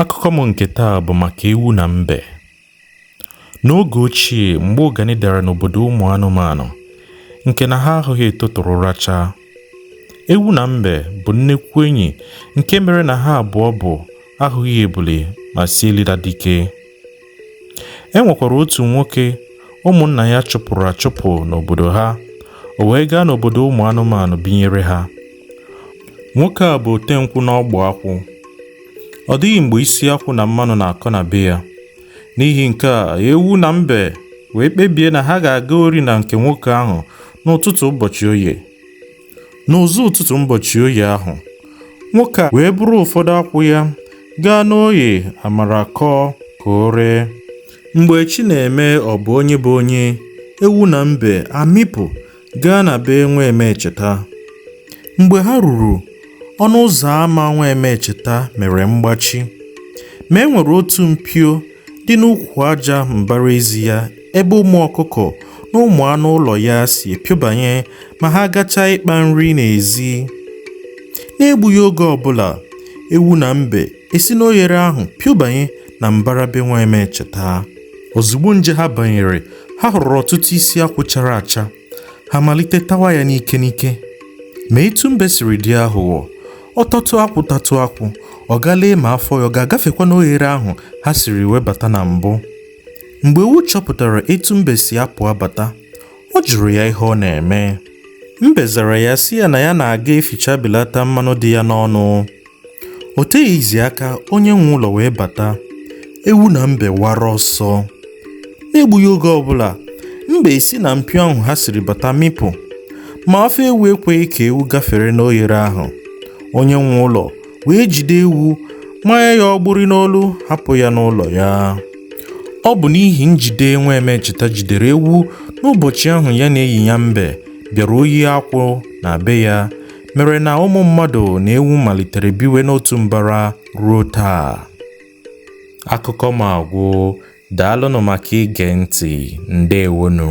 Akụkọ m nke taa bụ maka ewu na mbe. N'oge ochie, mgbe ụganị dara n'obodo ụmụ anụmanụ, nke na ha ahụghị etotụrụ rachaa, ewu na mbe bụ nnekwu enyi nke mere na ha abụọ bụ ahụghị ebule ma sị elila dike. E nwekwara otu nwoke ụmụnna ya chụpụrụ achụpụ n'obodo ha, o wee gaa n'obodo ụmụ anụmanụ binyere ha. Nwoke a bụ otenkwụ na ogbu akwụ. Ọ dịghị mgbe isi akwụ na mmanụ na-akọ na be ya. N'ihi nke a, ewu na mbe wee kpebie na ha ga-aga ori na nke nwoke ahụ n'ụtụtụ ụbọchị oye. N'ụzọ ụtụtụ ụbọchị oye ahụ, nwoke a wee buru ụfọdụ akwụ ya gaa n'Oye Amaraku ka o ree. Mgbe chi na-eme ọ bụ onye bụ onye, ewu na mbe amịpụ gaa na be nwa Emecheta. Mgbe ha ruru, ọnụ ụzọ ama nwa Emecheta mere mgbachi, ma e nwere otu mpio dị n'ukwu aja mbara ezi ya ebe ụmụ ọkụkọ na ụmụ anụ ụlọ ya si epiobanye ma ha gachaa ịkpa nri n'ezi. N'egbughị oge ọbụla, ewu na mbe esi n'oghere ahụ piobanye na mbara be Nwaemecheta. Ozugbo nje ha banyere, ha hụrụ ọtụtụ isi akwụ chara acha. ha malite tawa ya n'ike n'ike ma etu mbe siri dị aghụghọ ọ tatụ akwụ tatụ akwụ ọ gaa lee ma afọ ya ọ ga-agafekwa n'oghere ahụ ha siri wee bata na mbụ mgbe ewu chọpụtara etu mbe si apụ abata ọ jụrụ ya ihe ọ na-eme mbe zara ya sị ya na ya na-aga eficha belata mmanụ dị ya n'ọnụ O teghịzi aka onye nwe ụlọ wee bata. Ewu na mbe wara ọsọ. N'egbughị oge ọbụla, mbe esi na mpio ahụ ha siri bata mịpụ. Ma afọ ewu ekweghị ka ewu gafere n'oghere ahụ. Onye nwe ụlọ wee jide ewu manye ya ọgbụrị n'olu hapụ ya n'ụlọ ya. Ọ bụ n'ihi njide nwa Emecheta jidere ewu n'ụbọchị ahụ ya na enyi ya mbe bịara ohi akwụ na be ya mere na ụmụ mmadụ na ewu malitere biwe n'otu mbara ruo taa akụkọ m agwụ daalụnụ maka ige ntị ndewonụ